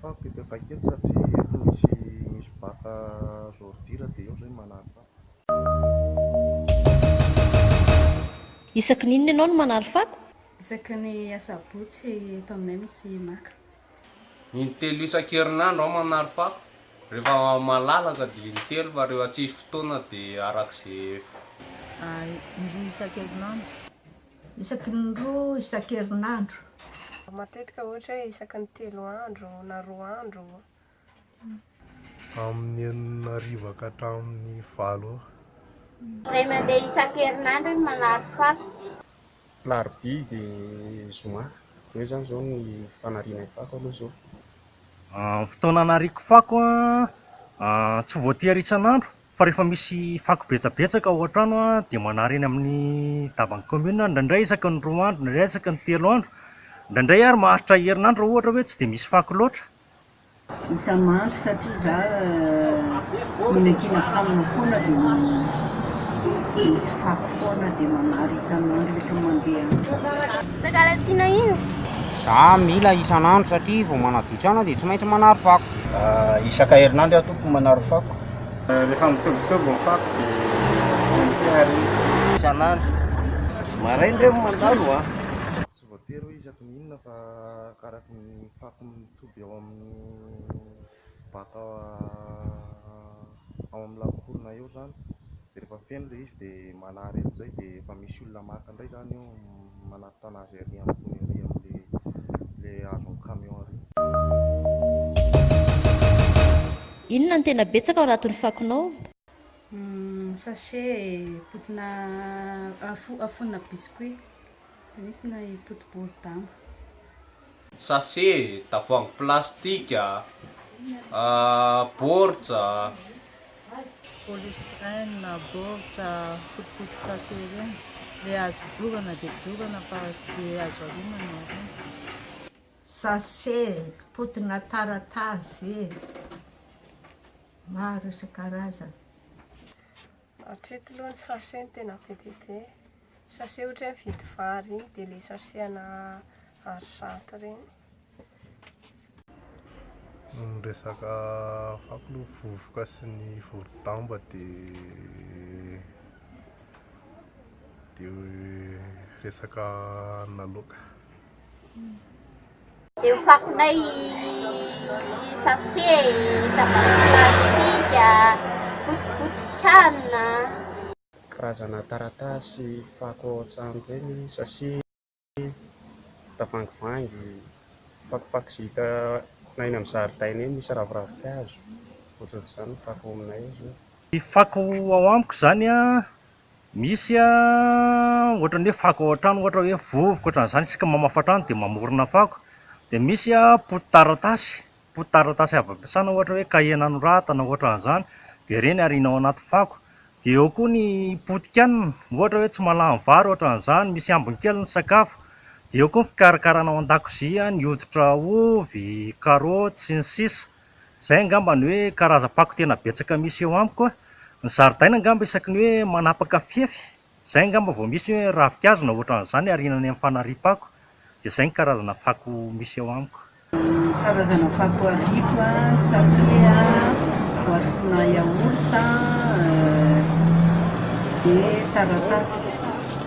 Fa be dia vaika eto satria eto misy misy boite à ordures dia eo zay manary fako. Isaky ny inona ianao no manary fako? Isaky ny asabotsy eto aminay misy maka. Intelo isan-kerinandro aho manary fako, rehefa malalaka dia intelo fa rehefa tsisy fotoana dia arak'izay. Indroa isan-kerinandro. Isaky ny roa isan-kerinandro. Matetika ohatra hoe isaky ny telo andro na roa andro. Amin'ny enina hariva ka hatramin'ny valo ora. Indray mandeha isan-kerinandro ny manary fako. Alarobia dia zoma. Eo izany izao ny fanarianay fako aloha izao. Ny fotoana anariako fako an, tsy voatery isan'andro. Fa rehefa misy fako betsabetsaka ao an-trano dia manary eny amin'ny daban'ny commune aho, indraindray isaky ny roa andro, indraindray isaky ny telo andro, indraindray ary maharitra herinandro raha ohatra hoe tsy dia misy fako loatra. Isa-mandro satria izaho mihinan-kena kanina foana dia misy fako foana dia manary isan'andro isaky ny mandeha. Mangalatsiana iny. Izaho mila isan'andro satria vao manaditra aina dia tsy maintsy manary fako. Isaka herinandro aho tompoko manary fako. Rehefa mitobitoby ny fako dia sentsy ary. Isan'andro. Maraina re mandalo a! Tsy voatery hoe isaky ny inona fa araky ny fako mitoby ao amin'ny baka ao amin'ny lafaorona eo izany. Dia rehefa feno ilay izy dia manary amin'izay dia efa misy olona maka indray izany eo manatona azy ary ambony ary amin'ilay hazon'ny camion ary. Inona no tena betsaka ao anatin'ny fakonao? Sachet potina afonina biscuit. Nisy na i Poto bory damba. Sachet, tavoahangy plastika, baoritra. Polystyrene, baoritra, fotopoto-tsachet ireny. Ilay azo dorana dia dorana fa tsy dia azo arinana ireny. Sachet, potona taratasy, maro isan-karazany. Hatreto aloha ny sachet no tena be dia be. Sachet ohatra hoe mividy vary iny dia ilay sachet ana vary zato ireny. Ny resaka fako aloha vovoka sy ny vorodamba dia dia resaka anona loaka. Karazana taratasy fako ao an-trano ireny, sachet, tavoangivangy, fakofako izay hitanay eny amin'ny zaridaina eny misy raviravin-kazo, ohatr'izany ny fako ao aminay. Ny fako ao amiko izany an, Misy ohatran'ny hoe fako ao an-trano ohatra hoe vovoka ohatran'izany isika mamafa trano dia mamorona fako, dia misy pototaratasy, pototaratasy avy ampiasana ohatra hoe kahie nanoratana ohatran'izany dia ireny ariana ao anaty fako, dia eo koa ny potikanina ohatra hoe tsy mahalany vary ohatran'izany, misy ambiny kely ny sakafo, dia eo koa ny fikarakarana ao an-dakozia ny hoditra ovy, karaoty sy ny sisa. Izay angamba ny hoe karazam-pako tena betsaka misy eo amiko a! Ny zaridaina angamba isaky ny hoe manapaka fefy, izay angamba vao misy hoe ravinkazo na ohatran'izany arinany amin'ny fanariam-pako. Dia izay ny karazana fako misy eo amiko. Ny karazana fako ariako a, sachet a, boatim-pona yaourt a, dia taratasy.